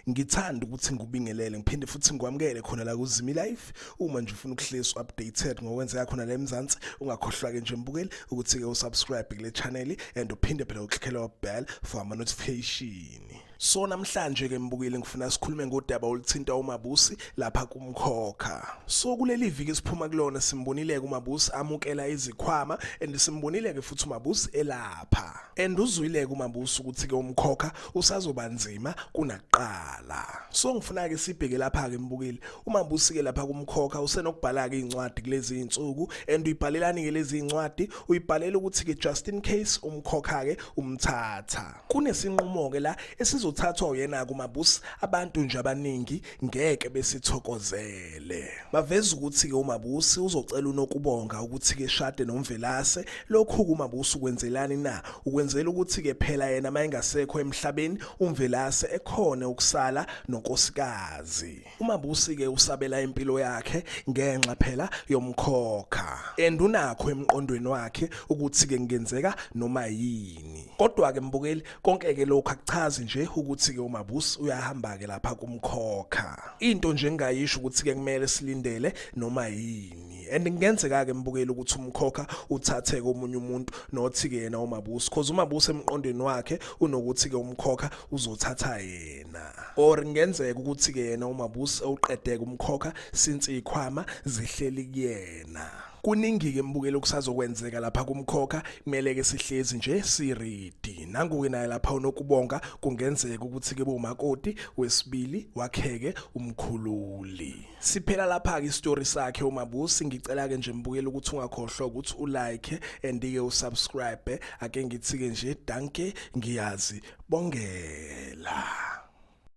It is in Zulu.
ngithanda ukuthi ngikubingelele ngiphinde futhi ngikwamukele khona la kuzimi life uma nje ufuna ukuhlezi updated ngokwenzeka khona la eMzansi ungakhohlwa ke nje mbukeli ukuthi ke usubscribe kule channel and uphinde phela uklikhela bell for ama notification So namhlanje ke mbukile ngifuna sikhulume ngodaba oluthinta uMabusi lapha kumkhokha. So kuleli viki siphuma kulona simbonile ke uMabusi amukela izikhwama and simbonile ke futhi uMabusi elapha. And uzwile ke uMabusi ukuthi ke umkhokha usazoba nzima kunakuqala. So ngifuna ke sibheke lapha ke mbukile. UMabusi ke lapha kumkhokha usenokubhala ke incwadi kulezi insuku and uyibhalelani ke lezi incwadi uyibhalela ukuthi ke just in case umkhokha ke umthatha. Kunesinqumo-ke la esizothathwa uyena-ke uMabus abantu nje abaningi ngeke besithokozele. Baveza ukuthi-ke uMabusi uzocela uNokubonga ukuthi-ke shade noMvelase. Lokhu-ke uMabusi ukwenzelani na? Ukwenzela ukuthi-ke phela yena uma engasekho emhlabeni uMvelase ekhone ukusala nonkosikazi. umabusi ke usabela impilo yakhe ngenxa phela yomkhokha and unakho emqondweni wakhe ukuthi ke ngenzeka noma yini kodwa ke mbukeli konke ke lokho akuchazi nje ukuthi ke umabusi uyahamba ke lapha kumkhokha into nje engayisho ukuthi ke kumele silindele noma yini and ngenzeka ke mbukeli ukuthi umkhokha uthathe komunye umuntu nothi ke yena umabusi cause umabusi emqondweni wakhe unokuthi ke umkhokha uzothatha yena na or ngenzeka ukuthi ke yena umabusi uqedeke umkhokha since ikhwama zihleli kuyena kuningi ke mbukelo kusazokwenzeka lapha kumkhokha kumele ke sihlezi nje siridi nanguke naye lapha unokubonga kungenzeka ukuthi ke bomakoti wesibili wakheke umkhululi Siphela lapha ke istory sakhe uMabusi ngicela ke nje mbukele ukuthi ungakhohlwa ukuthi u like and ke u subscribe ake ngithike nje danke ngiyazi bongela